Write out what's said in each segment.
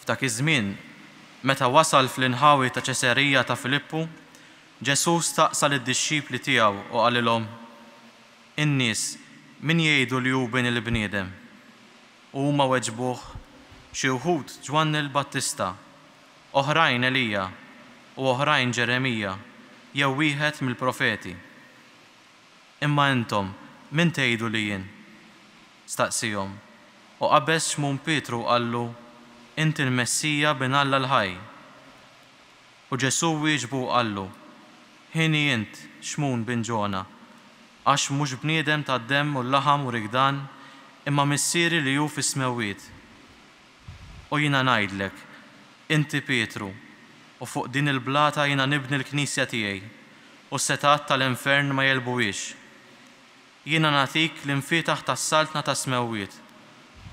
F'dak iż-żmien, meta wasal fl-inħawi ta' Ċesarija ta' Filippu, Ġesù staqsa lid-dixxipli tiegħu u qalilhom, In-nies min jgħidu li hu Bin il-bniedem? U huma weġbuh, Xi wħud Ġwanni l-Battista, oħrajn Elija, u oħrajn Ġeremija jew wieħed mill-profeti. Imma intom, min tgħidu li jien? staqsiehom, u qabeż Xmun Pietru u qallu, Inti l-Messija, Bin Alla l-ħaj. U Ġesù wieġbu u qallu, Hieni int, Xmun bin Ġona, għax mhux bniedem ta' demm u laħam urik dan, imma Missieri li hu fis-smewwiet. U jiena ngħidlek, Inti Pietru, u fuq din il-blata jiena nibni l-Knisja tiegħi, u s-setgħat tal-infern ma jegħlbuhiex. Jiena nagħtik l-imfietaħ tas-saltna tas-smewwiet,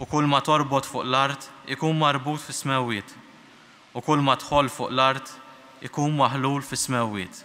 u kulma torbot fuq l-art ikun marbut fis-smewwiet, u kulma tħoll fuq l-art ikun maħlul fis-smewwiet.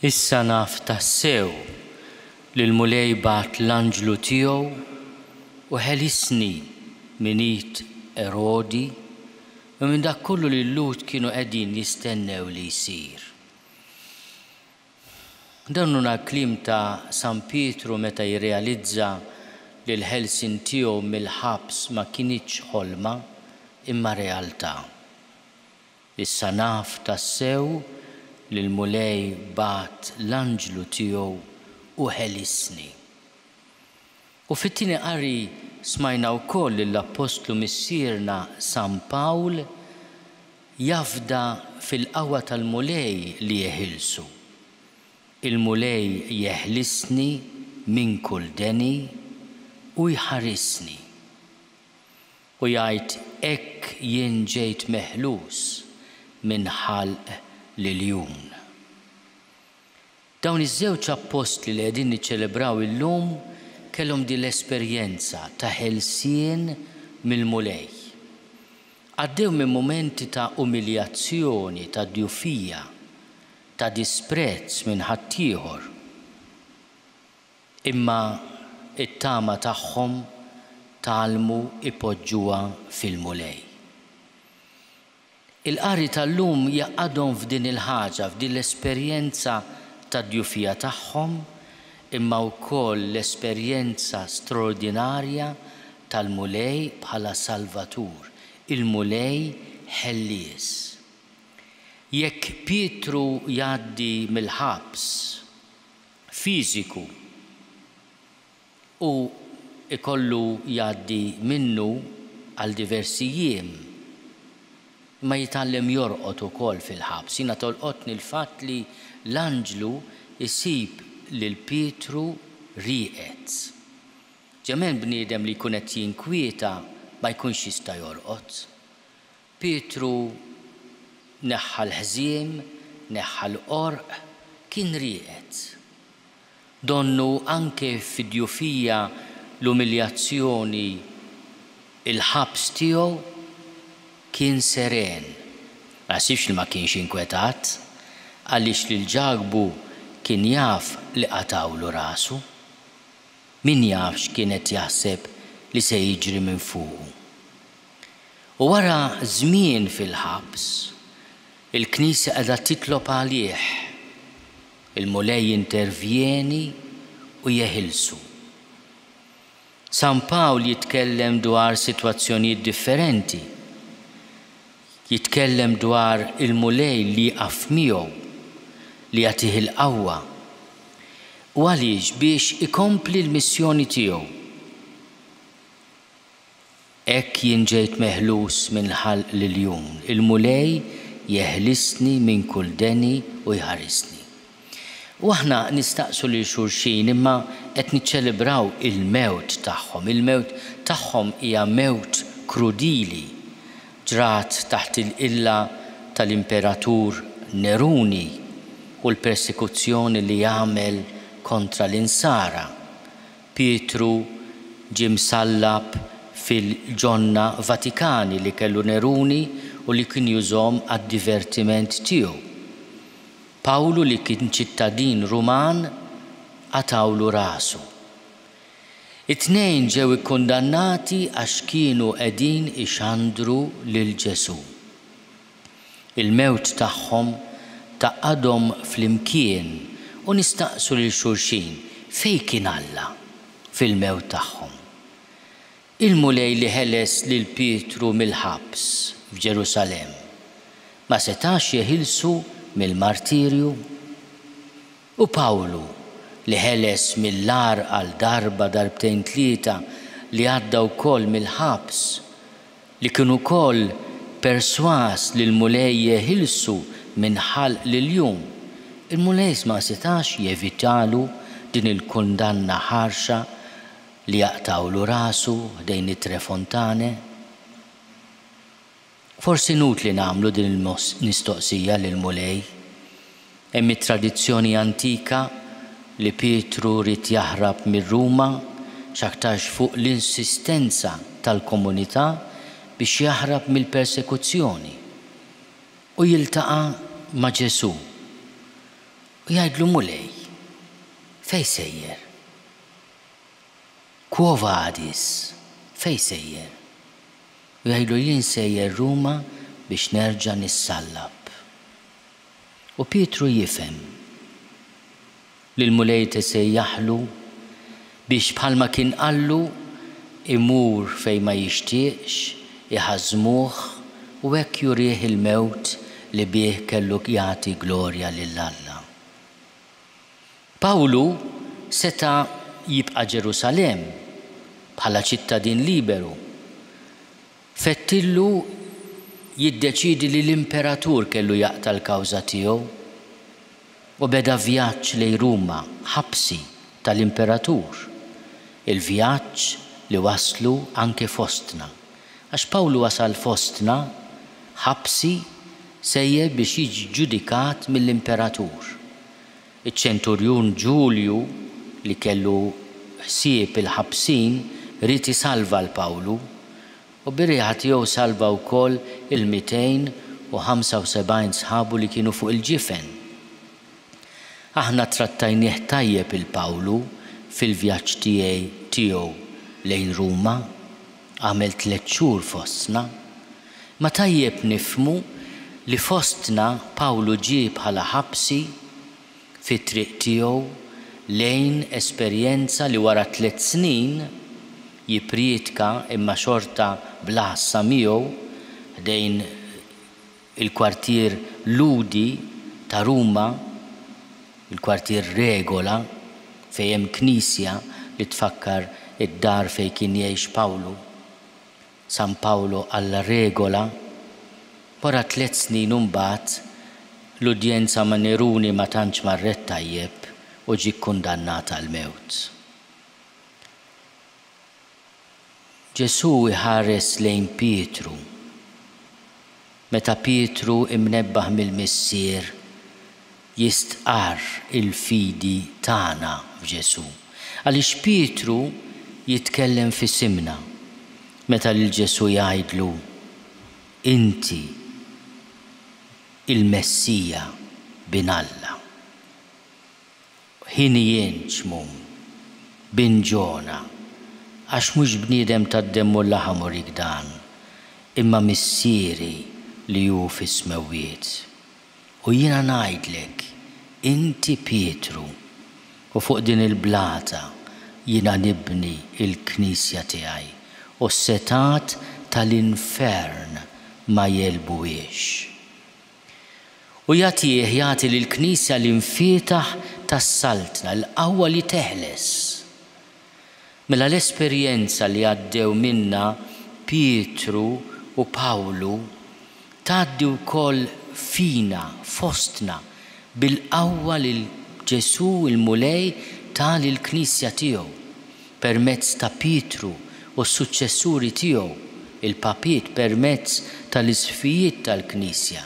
Issa naf tassew li l-Mulej bagħat l-anġlu tiegħu u ħelisni minn id Erodi u minn dak kollu li l-Lhud kienu qegħdin jistennew li jsir. Dan huna l-kliem ta' San Pietru meta jirrealizza li l-ħelsien tiegħu mill-ħabs ma kinitx ħolma, imma realtà. Issa naf tassew li l-Mulej bagħat l-anġlu tiegħu u ħelisni. U fit-tieni qari smajna wkoll lill-Appostlu Missierna San Pawl jafda fil-qawwa tal-Mulej li jeħilsu. Il-Mulej jeħlisni minn kull deni u jħarisni. U jgħid hekk jien ġejt meħlus minn ħalq l-iljun. Dawn iż-żewġ appostli li qegħdin niċċelebraw illum kellhom din l-esperjenza ta' ħelsien mill-Mulej. Għaddew minn mumenti ta' umiljazzjoni, ta' djufija, ta' disprezz minn ħaddieħor. Imma t-tama tagħhom tgħallmu jpoġġuha fil-Mulej. Il-qari tal-lum jgħaqqadhom f'din il-ħaġa, f'din l-esperjenza tad-djufija tagħhom, imma wkoll l-esperjenza straordinarja tal-Mulej bħala Salvatur, il-Mulej Ħellies. Jekk Pietru jgħaddi mill-ħabs fiżiku, Hu jkollu jgħaddi minnu għal diversi jiem. Imma jitgħallem jorqod ukoll fil-ħabs. Jiena tolqotni l-fatt li l-anġlu jsib lil Pietru rieqed. Ġemen bniedem li jkun qed jinkwieta ma jkunx jista' jorqod. Pietru neħħa l-ħżiem, neħħa l-qorq, kien rieqed. Donnu anke fid-djufija, l-umiljazzjoni, il-ħabs tiegħu, kien seren. Ma naħsibx li ma kienx inkwetat, għaliex lil Ġakbu kien jaf li qatgħulu rasu. Min jaf x'kien qed jaħseb li se jiġri minn fuqu. U wara żmien fil-ħabs, il-Knisja qiegħda titlob għalih. Il-Mulej jintervjeni u jeħilsu. San Pawl jitkellem dwar sitwazzjonijiet differenti. Jitkellem dwar il-Mulej li jieqaf miegħu, li jagħtih il-qawwa. U għaliex? Biex ikompli l-missjoni tiegħu. Hekk jien ġejt meħlus minn ħalq l-iljun, il-Mulej jeħlisni minn kull deni u jħarisni. U aħna nistaqsu lil xulxin, imma qed niċċelebraw il-mewt tagħhom. Il-mewt tagħhom hija mewt krudili. Ġrat taħt il-qilla tal-Imperatur Neruni u l-persekuzzjoni li għamel kontra l-Insara. Pietru ġie msallab fil-ġonna Vatikani li kellu Neruni u li kien jużhom għad-divertiment tiegħu. Pawlu li kien ċittadin Ruman qatgħulu rasu. It-tnejn ġew ikkundannati għax kienu qegħdin ixandru lil Ġesù. Il-mewt tagħhom tgħaqqadhom flimkien u nistaqsu lil xulxin, Fejn kien Alla fil-mewt tagħhom? Il-Mulej li ħeles lil Pietru mill-ħabs f'Ġerusalemm ma setax jeħilsu mill-martirju? U Pawlu, li ħeles mill-agħar għal darba, darbtejn tlieta, li għadda wkoll mill-ħabs, li kien ukoll persważ li l-Mulej jeħilsu minn ħalq lil jum, il-Mulej ma setax jevitalu din il-kundanna ħarxa li jaqtgħulu rasu ħdejn it-Tre Fontane? Forsi inutli nagħmlu din il-mistoqsija lill-Mulej. Hemm it-tradizzjoni antika li Pietru ried jaħrab mir-Ruma, x'aktarx fuq l-insistenza tal-komunità biex jaħrab mill-persekuzzjoni. U jiltaqa' ma' Ġesù u jgħidlu, Mulej, fejn sejjer? Quo vadis? Fejn sejjer? U jgħidlu jien sejjer Ruma biex nerġa' nissallab. U Pietru jifhem li l-Mulej tisejjaħlu biex bħalma kien qallu imur fejn ma jixtieqx iħażżmuh u hekk jurih il-mewt li bih kellu jagħti glorja lil Alla. Pawlu seta' jibqa' Ġerusalemm bħala ċittadin liberu. Fettillu jiddeċiedi li l-imperatur kellu jaqta' l-kawża tiegħu u beda vjaġġ lejn Ruma, ħabsi tal-imperatur. Il-vjaġġ li wasslu anke fostna. Għax Pawlu wasal fostna ħabsi sejjer biex jiġi ġġudikat mill-imperatur. Iċ-ċenturjun Ġulju, li kellu ħsieb il-ħabsin, ried isalva 'l Pawlu, u bir-riħa tiegħu salva wkoll il-mitejn u ħamsa u sebgħin sħabu li kienu fuq il-ġifen. Aħna ttrattajnieh tajjeb 'il Pawlu fil-vjaġġ tiegħi tiegħu lejn Ruma. Għamilt tliet xhur fostna. Ma tajjeb nifhmu li fostna Pawlu ġie bħala ħabsi fit-triq tiegħu lejn esperjenza li wara tliet snin jipprietka imma xorta bla ħassa miegħu ħdejn il-kwartier Lhudi ta' Ruma, il-kwartier Regola, fejn hemm knisja li tfakkar id-dar fejn kien jgħix Pawlu, San Paolo alla Regola. Wara tliet snin imbagħad, l-udjenza ma' Neruni ma tantx marret tajjeb u ġie kkundannat għall-mewt. Ġesù iħares lejn Pietru. Meta Pietru, imnebbaħ mill-Missier, jistqarr il-fidi tagħna f'Ġesù. Għaliex Pietru jitkellem f'isimna meta lil Ġesù jgħidlu, Inti il-Messija, Bin Alla? Ħin jien, Ċmum, bin Ġona, għax mhux bniedem tad-demm u l-laħam urik dan, imma Missieri li hu fis-smewwiet. U jiena ngħidlek, inti Pietru, u fuq din il-blata jiena nibni l-Knisja tiegħi, u s-setgħat tal-infern ma jegħlbuhiex. u jagħtih jagħti lill-Knisja l-imfietaħ tas-Saltna, l-qawwa li teħles. Mela l-esperjenza li għaddew minnha Pietru u Pawlu tgħaddi wkoll fina, fostna, bil-qawwa li Ġesù l-Mulej ta lill-Knisja tiegħu. permezz ta' Pietru u s-suċċessuri tiegħu, il-papiet permezz tal-isqfijiet tal-Knisja,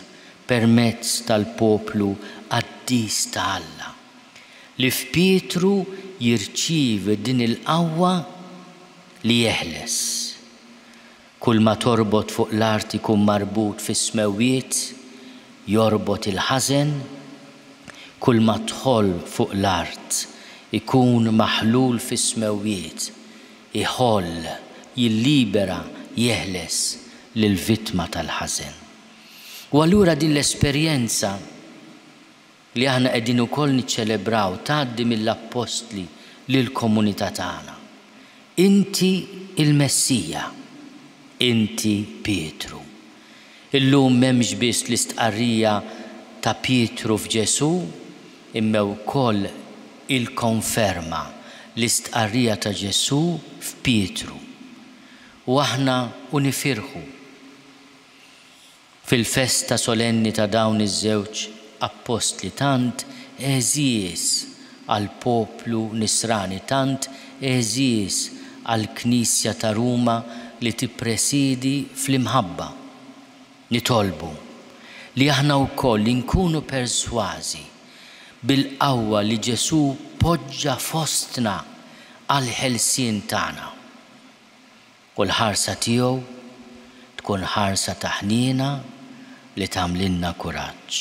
permezz tal-poplu qaddis ta' Alla. Li f'Pietru jirċievi din il-qawwa li jeħles. Kull ma torbot fuq l-art ikun marbut fis-smewwiet, jorbot il-ħażen, kull ma dħol fuq l-art ikun maħlul fis-smewwiet, iħoll, jillibera, jeħles lill-vittma tal-ħażen. U allura din l-esperjenza li aħna qegħdin ukoll niċċelebraw tgħaddi mill-appostli lill-komunità tagħna. Inti l-Messija. Inti Pietru. Illum m'hemmx biss l-istqarrija ta' Pietru f'Ġesù, imma wkoll il-konferma, l-istqarrija ta' Ġesù f'Pietru. U aħna u nifirħu. Fil-festa solenni ta' dawn iż-żewġ appostli tant għeżież għall-poplu Nisrani, tant għeżież għall-Knisja ta' Ruma li tippresiedi fl-imħabba, nitolbu li aħna wkoll inkunu persważi bil-qawwa li Ġesù poġġa fostna għall-ħelsien tagħna. U l-ħarsa tiegħu tkun ħarsa ta' ħniena li tagħmlilna kuraġġ.